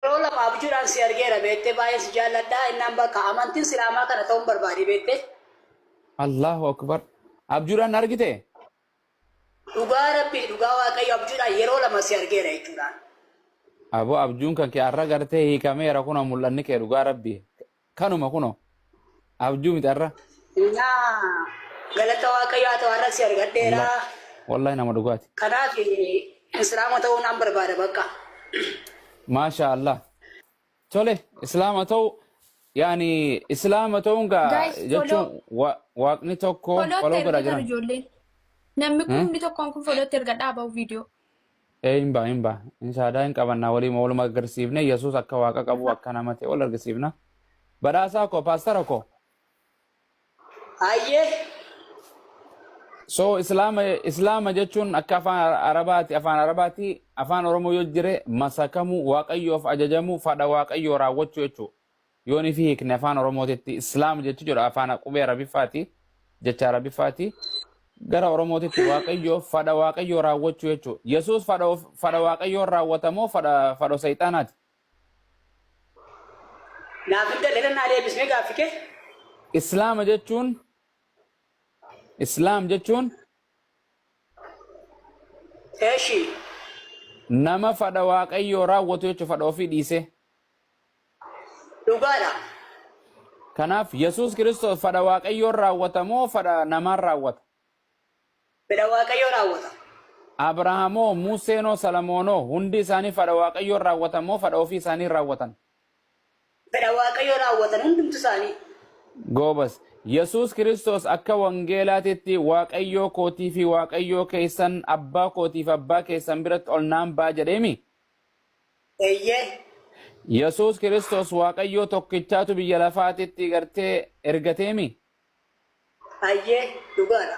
Yeroo lama abjuudhaan si argeera beektee baay'een si jaalladha innaan bakka amantiin silaamaa kana ta'uun barbaade beektee. Allahu akbar abjuudhaan na argite? Dhugaa rabbii dhugaa waaqayyo abjuudhaan yeroo lama si argeera jechuudhaan. Aboo abjuun kan kee arra gartee hiikameera kunoo mul'anni kee dhugaa rabbii. Kanuma kunoo abjuu miti arra. Naa galata waaqayyo haa ta'u har'a si argadheera. Wallahi wallahi nama dhugaati. Kanaaf islaama ta'uu naan barbaada bakka. Maashaa Allah. Tole islaama ta'u yaani islaama ta'uun gaa Guys, follow. jechuun wa- waaqni tokko Folootti foloo godha ergitan jiran. ijoolleen. Namni Hmm? kumni tokkoon kun folootti erga dhaabau viidiyoo. Ee hin ba'a hin ba'a hin shaadaa hin qabannaa waliima waluma aggarsiifnee yesuus akka waaqa qabuu akka nama ta'e wal argisiifna badhaasaa koo paastara koo. Hayyee. So islaama islaama jechuun akka afaan arabaati afaan arabaati afaan oromoo yoo jire masakamuu waaqayyoof ajajamuu fadha waaqayyoo raawwachuu jechuu. Yoon ifii hiikne afaan Oromootitti Islaam jechu jedhu afaan qubee Arabiffaati, jecha Arabiffaati. Gara Oromootitti Waaqayyo fadha Waaqayyoo raawwachuu jechu. Yesuus fadha of- fadha Waaqayyoon raawwata moo fadha fadho Seexaanaati? Naaf hin galle nannaa deebisnee gaaffi kee. Islaama jechuun Islaam jechuun Eeshi. nama fadha Waaqayyoo raawwatu jechu fadha ofii dhiisee. Dhugaa dha. Kanaaf Yesuus Kiristoos fadha Waaqayyoon raawwata moo fadha namaan raawwata? Fedha Waaqayyoo raawwata. Abrahaamoo, Museenoo, Salamoonoo hundi isaanii fadha Waaqayyoon raawwatan moo fadha ofii isaanii raawwatan? Fedha Waaqayyoo raawwatan hundumtu isaanii. Goobas. Yesuus Kiristoos akka wangeelaatitti Waaqayyoo kootii fi Waaqayyoo keessan, abbaa kootii fi abbaa keessan biratti ol naan ba'a jedheemi? Eeyyee. Yesuus Kiristoos Waaqayyoo tokkichaatu biyya lafaatitti gartee ergateemi? Ayyee, dhugaadha.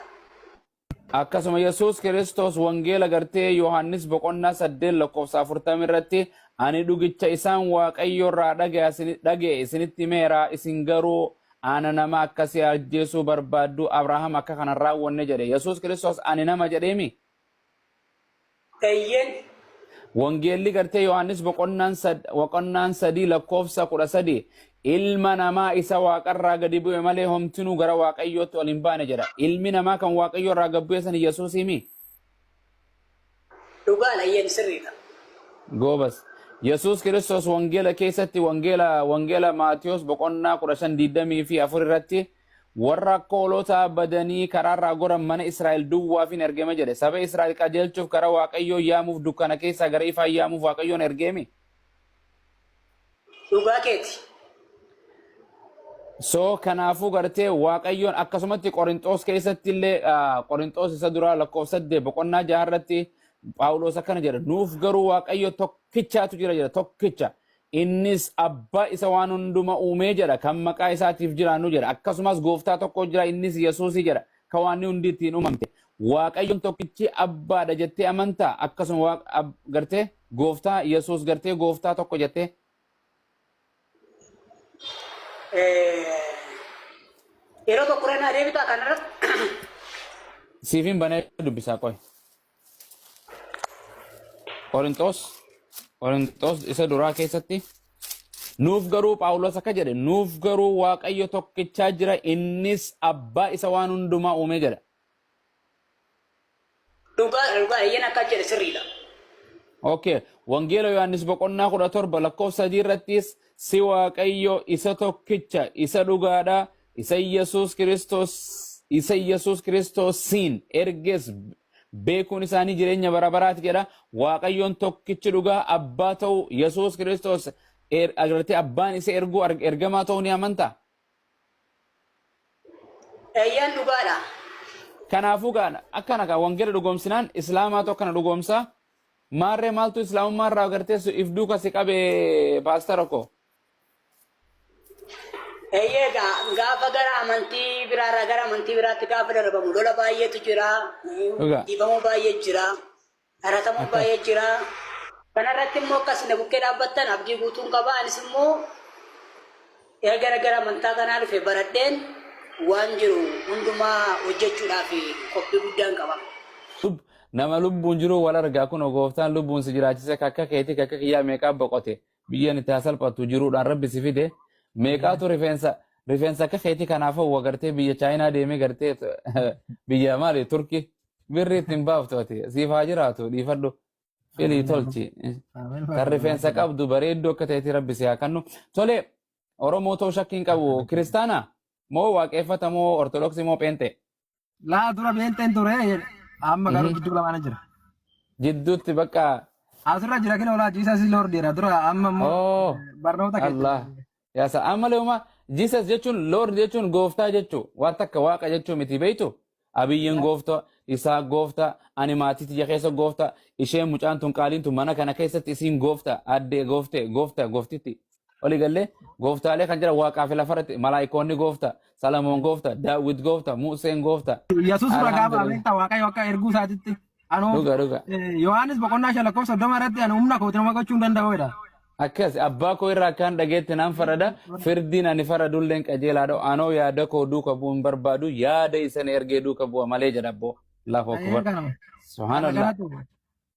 Akkasuma Yesuus Kiristoos Wangeela gartee Yohaannis boqonnaa 8 lakkoofsa 40 irratti ani dhugicha isaan Waaqayyo irraa dhaga'e isinitti himeera isin garuu ana nama akkasii ajjeesuu barbaaddu Abrahaam akka kana hin raawwanne jedhe Yesuus Kiristoos ani nama jedheemi? Eyyeen. Wangeelli gartee Yohaannis boqonnaan sad- boqonnaan sadii lakkoofsa kudha sadii ilma namaa isa waaqarraa gadi bu'e malee homtinuu gara waaqayyootti ol hin baane jedha. Ilmi namaa kan waaqayyoorraa gad bu'e san Yesuusiimi? Dhugaadha eyyeen sirriidha. Goobas. Yesuus Kiristoos wangeela keessatti wangeela wangeela Maatiyos boqonnaa kudha shan digdamii fi afur irratti Warra akka hoolotaa badanii karaa irraa goran mana Israa'el duwwaafin ergeme jedhe. Saba Israa'el qajeelchuuf gara Waaqayyoo yaamuuf dukkana keessaa gara ifaa yaamuuf Waaqayyoon ergeemi. Dhugaa keeti. So kanaafuu gartee Waaqayyoon akkasumatti Qorinxoos keessatti illee Qorinxoos isa duraa lakkoofsa saddeet boqonnaa jaha irratti Phaawuloos akkana jedha nuuf garuu Waaqayyo tokkichaatu jira jedha tokkicha Innis Abba isa waan hunduma uumee jedha, kan maqaa isaatiif jiraannu jedha. Akkasumas gooftaa tokko jira, innis Yesuusi jedha, ka waanni hundi ittiin uumamte. Waaqayyoon tokkichi Abbaa dha jettee amantaa? Akkasuma Waaq- Ab- gartee gooftaa Yesuus gartee gooftaa tokko jettee Yeroo tokko irra naa deebitaa kanarratti siifin banee dubbisaa qoy. Qorinxoos Qorinxoos isa duraa keessatti nuuf garuu Phaawulos akka jedhe nuuf garuu Waaqayyo tokkichaa jira innis abbaa isa waan hundumaa uumee jedha. Dhugaa dhugaa eeyyeen akka jedhe sirriidha. Okay. Wangeela Yohaannis boqonnaa kudha torba lakkoofsa sadii irrattis si Waaqayyo isa tokkicha isa dhugaadha Isa Yesuus Kiristoos isa Yesuus Kiristoosiin erges beekuun isaanii jireenya bara baraati jedha. Waaqayyoon tokkichi dhugaa abbaa ta'uu Yesuus Kiristoos er- irratti abbaan isa erguu ar- ergamaa ta'uu ni amanta. Eeyyeen dhugaadha. Kanaafuu gaa akkana gaa wangeela dhugoomsinaan islaamaatu akkana dhugoomsaa. Maarree maaltu islaamummaa irraa agarteessu if duuka si qabe paastara koo. Eeyyee egaa gaafa gara amantii biraarraa gara amantii biraatti gaafa darbamu lola baay'eetu jira, Dhugaa. dhiibamuu baay'ee jira, dharatamuu Akkas. baay'ee jira. Kanarratti immoo akkas na bukkee dhaabbattan abdii guutuun qaba. Anis immoo erga gara amantaa kanaa dhufe baradheen waan jiru hundumaa hojjechuudhaaf qophii guddaan qaba. Sub nama lubbuun jiruu wal argaa kunoo gooftaan lubbuun si jiraachise kakka keetii kakka kiyyaa meeqaa boqote Biyyeen itti haa salphattu jiruudhaan rabbi si fide meeqaatu rifeensa rifeensa akka keetii kanaaf hawwa gartee biyya chaayinaa deemee gartee biyya maali turki birri itti hin baaftu ati siif haa jiraatu dhiifadhu filii tolchi kan rifeensa qabdu bareedduu akka ta'etti rabbi si haa kennu tole oromoo ta'uu shakkii hin qabu kiristaana moo waaqeffata moo ortodoksii moo pheenxee Laa dura beenxeen ture jedhe. Amma garuu Mhm. gidduu lamaana jira. Jidduutti bakka Asirra jira kina olaa jiisaa si lord jedha dura amma immoo oo barnoota keessa. Allah yaa sa ammalee uma Jesus jechuun Lord jechuun gooftaa jechuu waan takka waaqa jechuu miti beektu abiyyiin gooftaa isaa gooftaa ani maatii tiyya keessa gooftaa isheen mucaan tun qaaliin tun mana kana keessatti isiin gooftaa addee gooftee gooftaa gooftitti Oli gallee gooftaalee kan jira waaqaa fi lafa irratti malaayikoonni goofta, Salamoon goofta, Daawwit goofta, Museen goofta. Yesuus ragaa ba'a Alhamdulillah. beektaa Waaqayyo akka erguu isaatitti. Anoo Dhuga dhuga. eh, Yohaannis boqonnaa shan lakkoofsa soddoma irratti ani humna kootiin nama gochuu hin danda'u jedha. Akkas abbaa koo irraa akkaan dhageetti nan farada firdiin ani faradulleen qajeelaadha anoo yaada koo duuka bu'u hin barbaadu yaada isa na ergee duuka bu'a malee jedha abboo. Allahu Ee, akbar. kana. Kana Subhanallah. kanatu.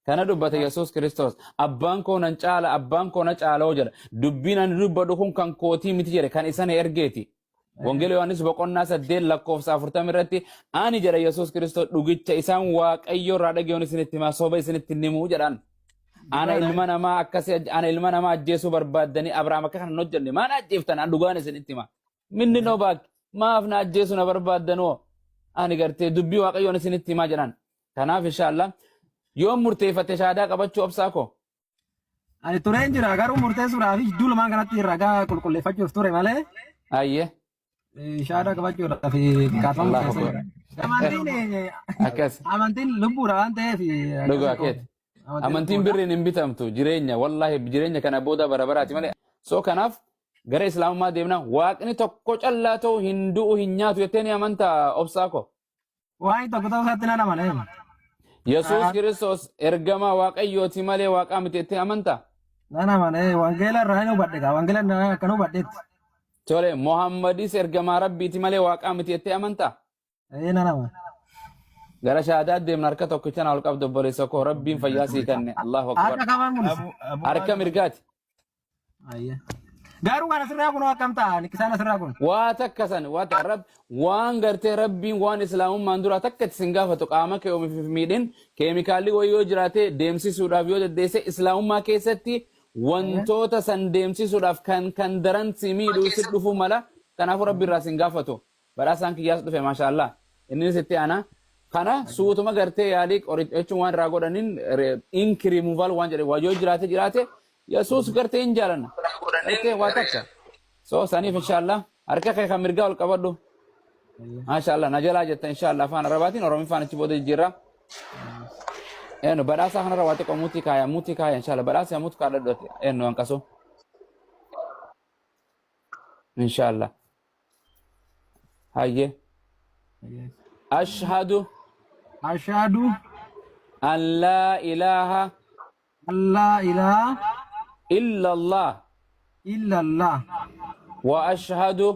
Kana dubbate Yesuus Kiristoos abbaan koo nan caala abbaan koo na caaloo jedha. Dubbiin ani dubbadhu kun kan kootii miti jedhe kan isa na ergeeti. Wangeela Yohaannis boqonnaa saddeet lakkoofsa afurtama irratti ani jedha Yesuus Kiristoos dhugicha isaan waaqayyoo irraa dhagayoon isinitti himaa soba isinitti hin himuu jedhaan. Ana Dhugaadha. ilma namaa akkasi ana ilma namaa ajjeesuu barbaaddanii Abrahaam akka kana hin hojjenne maal ajjeeftan an dhugaan isinitti himaa. Minni noo baak maaf na ajjeesuu na barbaaddanoo ani gartee dubbii waaqayyoon isinitti himaa jedhaan. Kanaaf inshaallah yoon murteeffatte shahaadaa qabachuu obsaa koo. Ani tureen jira garuu murteessuudhaaf jidduu lamaan kanatti ragaa qulqulleeffachuuf ture malee Ayyee. eh, shahaadaa qabachuudhaaf eh, kaafama Allahu murteessee jira. Amantiin eh, Akkas. amantiin lubbuudha waan ta'eef eh, akkas Dhugaa ta'uu. keeti. Amantiin Amantiin lubbuudha. birriin hin bitamtu jireenya wallaahi jireenya kana booda bara baraati malee. So kanaaf gara islaamummaa deemna waaqni tokko callaa ta'u hin du'u hin nyaatu jettee ni amantaa obsaa koo. Waa'ee tokko ta'uu isaatti nan amana. eema. Yesuus Haa- Kiristoos ergamaa Waaqayyooti malee Waaqaa miti jettee amanta? Nan amana. ee, Wangeela irraa hin hubadhe gaa. Wangeela irraa akkan hubadhetti. Tole, Muhammadis ergamaa Rabbiiti malee Waaqaa miti jettee amanta? Ee nan amana. Gara shahaadaa deemna harka tokkicha na ol qabdu obboleessa koo Rabbiin fayyaa sii kenne. Allahu Harka akbar. kamaan mul'isa. Abu Abu Harka Hasan mirgaati. Ayya. Gaaruu kana sirraa kun akkam ta'a? Nikkisaan asirraa kun. waa takka san waa takka rab waan gartee rabbiin waan islaamummaan duraa takka itti sin gaafatu qaama kee omiif hin miidhin keemikaalli wayii yoo jiraate deemsisuudhaaf yoo dandeesse islaamummaa keessatti wantoota san deemsisuudhaaf kan kan daran si miidhuu si dhufuu mala kanaafuu rabbi irraa sin gaafatu Badhaasaan kiyyaas dhufe maashaallah inninis itti aana kana suutuma gartee yaalii qoricha jechuun waan irraa godhanin ink removal waan jedhe waa yoo jiraate jiraate yesuus gartee hin jaalanna gartee waa takka so saniif inshaallah harka kee kan mirgaa ol qabadhu maashaallah na jalaa jetta inshaallah afaan arabaatiin oromiffaan achi booda jijjiirraa eno badhaasaa kanarra waa xiqqoo muutii kaaya muutii kaaya inshaallah badhaasaa muutii kaadhadhu eno hanqasoo inshaallah hayye ashhadu ashhadu an laa ilaaha an laa ilaaha illa allah illa allah wa ashhadu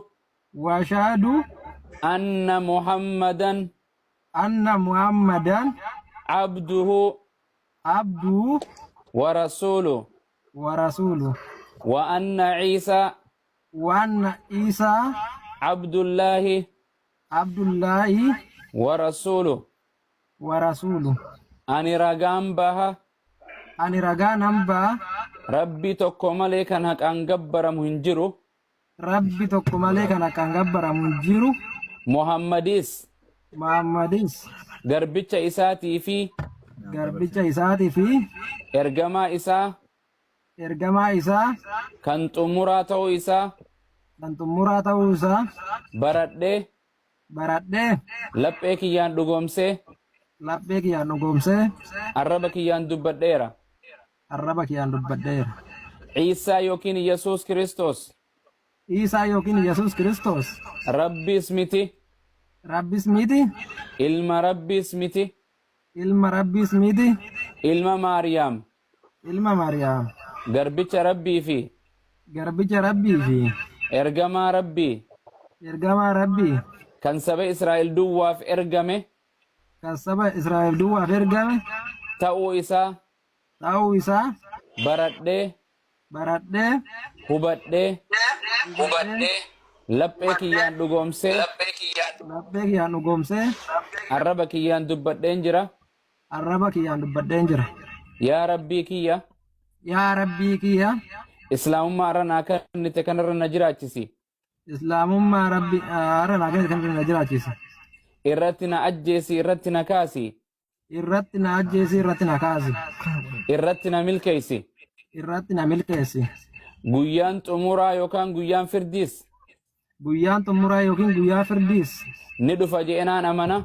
wa ashhadu anna muhammadan anna muhammadan abduhu abduhu wa rasuluhu wa rasuluhu wa anna ciisaa waanna Iisaa. Abdullaahi. Abdullaahi. Wa rasuulu. Wa rasuulu. Ani ragaan baha. Ani ragaa nan baha. Rabbii tokko malee kan haqaan gabbaramu hin jiru. Rabbi tokko malee kan haqaan gabbaramu hin jiru. Muhammadiis. Muhammadiis. Garbicha isaatii fi. Garbicha isaatii fi. Ergamaa isaa. Ergamaa Isaa. Kan xumuraa ta'uu Isaa. Kan xumuraa ta'uu Isaa. Baradhee. Baradhee. Laphee kiyyaan dhugoomsee. Laphee kiyyaan dhugoomsee. Arraba kiyyaan dubbadheera. Arraba kiyyaan dubbadheera. Iisaa yookiin Yesuus Kiristoos. Iisaa yookiin Yesuus Kiristoos. Rabbiis miti. Rabbiis miti. Ilma Rabbiis miti. Ilma Rabbiis miti. Ilma Maariyaam. ilma Mariyaam. Garbicha Rabbii fi. garbicha Rabbii fi. Ergamaa Rabbii. ergamaa Rabbii. kan saba Israa'el duwwaaf ergame. kan saba Israa'el duwwaaf ergame. ta'uu isaa. ta'uu isaa. baradhee. baradhee. hubadhee. hubadhee. laphee kiyyaan dhugoomsee. laphee kiyyaan dhugoomsee. arraba kiyyaan dubbadheen jira. Arraba kiyyaan dubbadheen jira. Yaa Rabbii kiyya Yaa Rabbii kiyya Islaamummaa irra naa kennite kanarra na jiraachisi. Islaamummaa Rabbi irra naa kennite kanarra na jiraachisi. Irratti na ajjeesi irratti na kaasi. Irratti na ajjeesi irratti na kaasi. Irratti na milkeessi. Irratti na milkeessi. Guyyaan xumuraa yookaan guyyaan firdiis. Guyyaan xumuraa yookiin guyyaa firdiis. Ni dhufa je'enaan amana.